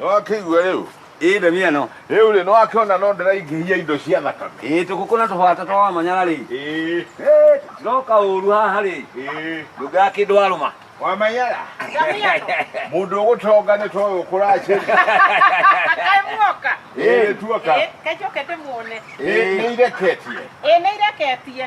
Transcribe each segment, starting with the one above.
nĩwakĩigua rĩu ĩĩ ndemi ĩno rĩu rĩ nĩwakĩona no ndĩraingĩhia indo cia thakame ĩĩ tũkũkũ na tũbata twa wamanyara rĩ ĩĩ Ĩĩ, tiroka ũru haha rĩ ĩĩ ndũngaa kĩndũ warũma wamanyara mũndũ ũgũtonga nĩ toyũ kũracĩria Kaĩ muoka? ĩĩ tuoka Ĩ, kacoke ndĩmuone. ĩĩ nĩireketie Ĩ, nĩireketie.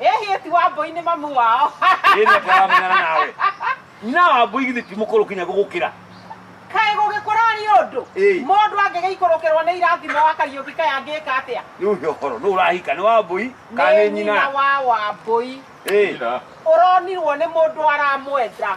Ĩ hihi ti Wambũi nĩ mamu wao? Ĩ nĩ atĩ aramenyana nawe. Nyina wa Wambũi githĩ ti mũkũrũ kinya gũgũkĩra? Kaĩ gũgĩkũra nĩ ũndũ? Ĩĩ. Mũndũ angĩgĩikũrũkĩrwo nĩ irathimo wa Kariũki kaĩ angĩka atĩa? Rĩu he ũhoro nũ ũrahika nĩ Wambũi kana nĩ nyina? wa Wambũi. Ĩĩ. Nyina. Ũronirwo nĩ mũndũ aramwenda.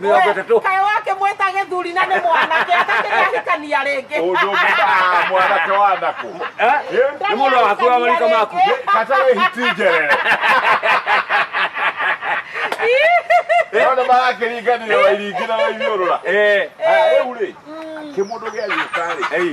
Mĩrongo ĩtatũ. kayo wake mweta gĩthuri na nĩ mwanake atakĩrĩ ahikania rĩngĩ Ũndũ mbaa mwanake wa nako. Eh? Nĩ mũndũ wa hakuhĩ wa marika maku. Kata we hitinjerere. Ona marakĩringanire wairingi na waithiũrũra. Eh. Rĩu rĩ, kĩmũndũ gĩa gĩũka rĩ, Ei.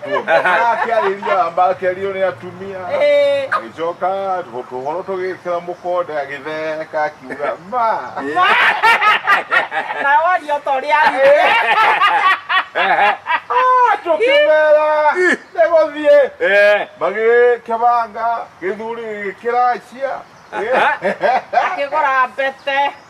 akĩarĩria amba akĩario nĩ atumia Eh, agĩcoka tũhoro tũgĩkĩra mũkonde agĩtheka akiuga ma na waria ta ũrĩa arire tũkĩmera nĩ gũthiĩ Eh. magĩkĩbanga gĩthuri gĩkĩracia akĩgũra mbete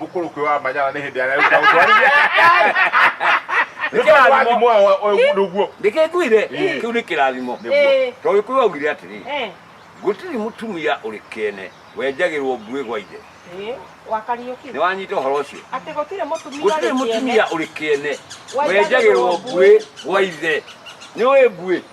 mũkũrũki wa manyara nĩ hĩndĩ arĩa ũka ũtwarithia nĩ kĩrathimo ũndũ guo ndĩkĩnguire Ĩĩ. kĩu nĩ kĩrathimo Ĩĩ. tondũ gĩkũyũ augire atĩrĩ Eh, gũtirĩ mũtumia ũrĩ kĩene wenjagĩrwo mbuĩ gwa ithe eh, wakariũki nĩ wanyita ũhoro ũcio atĩ gũtirĩ mũtumia gũtirĩ ũrĩ mũtumia kĩene. ũrĩ kĩene Wenjagĩrwo wenjagĩrwo mbuĩ gwa ithe nĩ ũĩ mbuĩ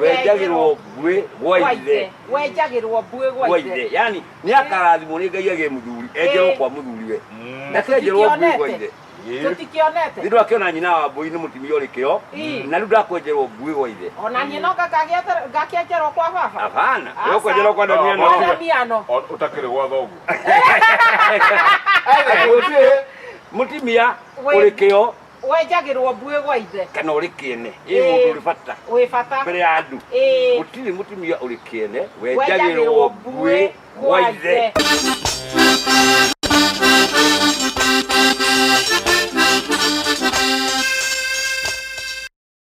wenjagirwo ngwĩ gwa ithe wenjagirwo mbuĩ gwa gwa ithe ithe yani nä akarathimwo nä ngai agä må thuri enjerwo kwa må thuri we Mm. ndakenjerwo ngui gwa ithe Ĩĩ. nä tũtikĩonete ndå akä ona nyina wa mbå nä må timia å rä kä o Ĩĩ. na rä u ndakwenjerwo ngui gwa ithe ona niĩ no ngakagĩete- ngakĩenjerwo kwa baba abana Aca. we kwenjerwo kwa ndania Kwa no ndamiano O- ũtakĩrĩ gwa thoguo må timia å rä kä o wenjagĩrwo mbuĩ gwa ithe kana ũrĩ kĩene ĩ Ĩĩ. mũndũ ũrĩ bata wĩ bata mbere ya andũ Ĩĩ. gũtirĩ mũtumia ũrĩ kĩene wenjagĩrwo mbuĩ gwa ithe